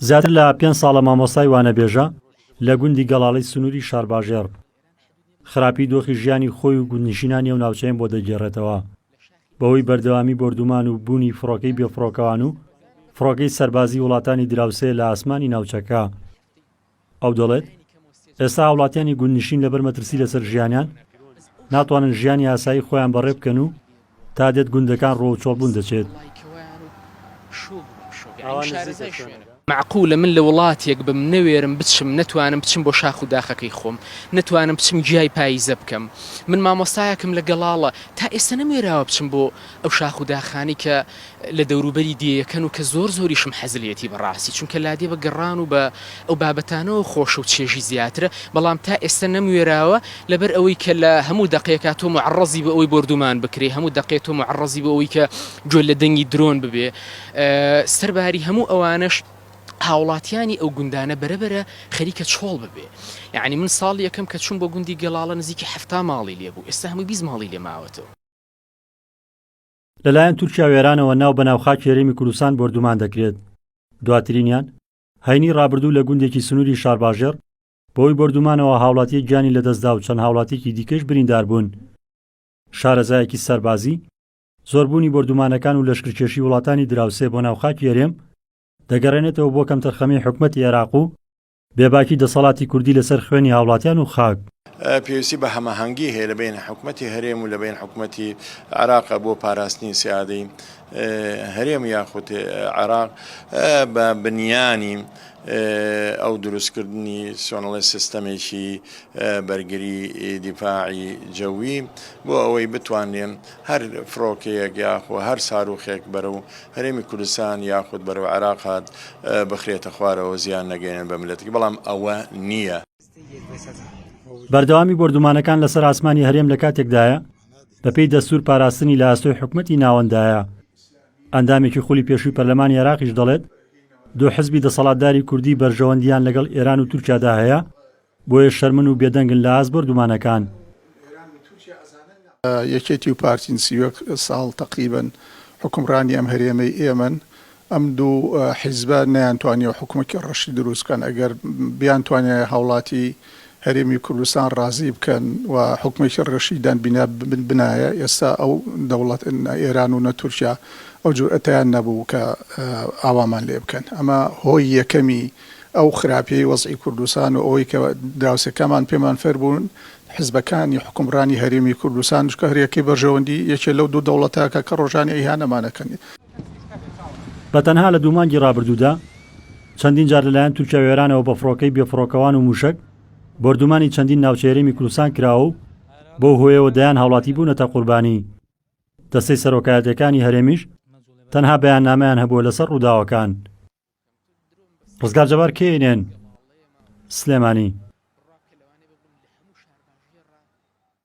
زیاتر لە پێنج ساڵە مامۆستای وانەبێژە لە گوندی گەڵاڵەی سنووری شارباژێڕ بوو. خراپی دۆخی ژیانی خۆی و گوندنشینانی ئەو ناوچەیەم بۆ دەگێڕێتەوە. بەهۆی بەردەوامی بۆردومان و بوونی فڕۆکەی بێفڕۆکەوان و فڕۆکەی سەربازی وڵاتانی دراوسێ لە ئاسمانی ناوچەکە، ئەو دەڵێت، ئێستا هاوڵاتیانی گوندنشین لەبەر مەترسی لەسەر ژیانیان، ناتوانن ژیانی ئاسایی خۆیان بەڕێ بکەن و تا دێت گوندەکان ڕۆ و چۆڵ بوون دەچێت. مەعقولە من لە وڵاتێک بم نەوێرم بچم، نەتوانم بچم بۆ شاخ و داخەکەی خۆم، نەتوانم بچم گیای پاییزە بکەم. من مامۆستایەکم لە گەڵاڵە، تا ئێستا نەموێراوە بچم بۆ ئەو شاخ و داخانەی کە لە دەوروبەری دێیەکەن و کە زۆر زۆریشم حەز لێیەتی بەڕاستی چونکە لادێ بە گەڕان و بە ئەو بابەتانەوە خۆشە و چێژی زیاترە بەڵام تا ئێستە نەموێراوە لەبەر ئەوەی کە لە هەموو دەقێکا تۆ موعەڕەزی بە ئەوەی بۆردومان بکرێ هەموو دەقێ تۆ موعەڕەزی بە ئەوەی کە گوێت لە دەنگی درۆن ببێ سەر باری هەموو ئەوانەش هاوڵاتیانی ئەو گوندانە بەرەبەرە خەریکە چۆڵ ببێ یعنی من ساڵ یەکەم کە چوم بۆ گوندی گەڵاڵە نزیکی حەفتا ماڵی لێبوو ئێستا هەمووی بیست ماڵی لێ ماوەتەوە. لەلایەن تورکیا و ئێرانەوە ناو بەناو خاکی هەرێمی کوردستان بۆردومان دەکرێت دواترینیان هەینی ڕابردوو لە گوندێکی سنووری شارباژێڕ بەوەی بۆردومانەوە هاوڵاتی گیانی لەدەستدا و چەند هاوڵاتیکی دیکەش بریندار بوون شارەزایەکی سەربازی زۆربوونی بۆردومانەکان و لەشکرکێشی وڵاتانی دراوسێ بۆ ناوخاکی هەرێم دەگەڕێنێتەوە بۆ کەمتەرخەمی حکومەتی عێراق و بێباکی دەسەڵاتی کوردی لەسەر خوێنی هاوڵاتیان و خاک. پێویستی بە هەماهەنگی هەیە لە بەین حکومەتی هەرێم و لە بەین حکومەتی عراقە بۆ پاراستنی سیادی هەرێم یاخود عراق بە بنیانی ئەو دروستکردنی سۆنڵی سیستەمێکی بەرگری دیفاعی جەوی بۆ ئەوەی بتوانێن هەر فڕۆکەیەک یاخۆ هەر ساروخێک بەرەو هەرێمی کوردستان یاخود بەرەو عێراق هات بخرێتە خوارەوە زیان نەگەیەنێت بە مللەتەکەی بەڵام ئەوە نییە. بەردەوامی بۆردومانەکان لەسەر ئاسمانی هەرێم لە کاتێکدایە، بەپێی دەستور پاراستنی لە ئەستۆی حکومەتی ناوەنددایە. ئەندامێکی خولی پێشووی پەرلەمانی عێراقیش دەڵێت، دوو حزبی دەسەڵاتداری کوردی بەرژەوەندییان لەگەڵ ئێران و تورکیادا هەیە، بۆیە شەرمن و بێدەنگن لە ئاست بۆردومانەکان. یەکێتی و پارتین سی و یەک ساڵ تەقریبەن حوکمڕانی ئەم هەرێمەی ئێمەن، ئەم دوو حیزبە نەیانتوانیەوە حکومەکی ڕەشی دروست بکەن، ئەگەر بیانتوانیایە هاوڵاتی هەرێمی کوردستان ڕازی بکەن و حکومەکی ڕەشی دان بینا بنایە، ئێستا ئەو دەوڵەت نە ئێران و نە تورکیا ئەو جورئەتەیان نەبوو کە ئاوامان لێ بکەن، ئەمە هۆی یەکەمی ئەو خراپیەی وەزعی کوردستان و ئەوەی کە دراوسێکانمان پێمان فێربوون، حزبەکانی حوکمڕانی هەرێمی کوردستان، چونکە هەر یەکەی بەرژەوەندی یەکێ لەو دوو دەوڵەتە کە کە ڕۆژانی ئیهانەمان ئەکەن. بە تەنها لە دوو مانگی ڕابردوودا چەندین جار لە لایەن تورکیا و ئێرانەوە بە فڕۆکەی بێ فڕۆکەوان و مووشەک بۆردومانی چەندین ناوچەی هەرێمی کوردستان کراوە و بەو هۆیەوە دەیان هاوڵاتی بوونەتە قوربانی، دەستەی سەرۆکایەتیەکانی هەرێمیش تەنها بەیاننامەیان هەبووە لەسەر ڕووداوەکان. ڕزگار جەبار کێ ئینێن سلێمانی.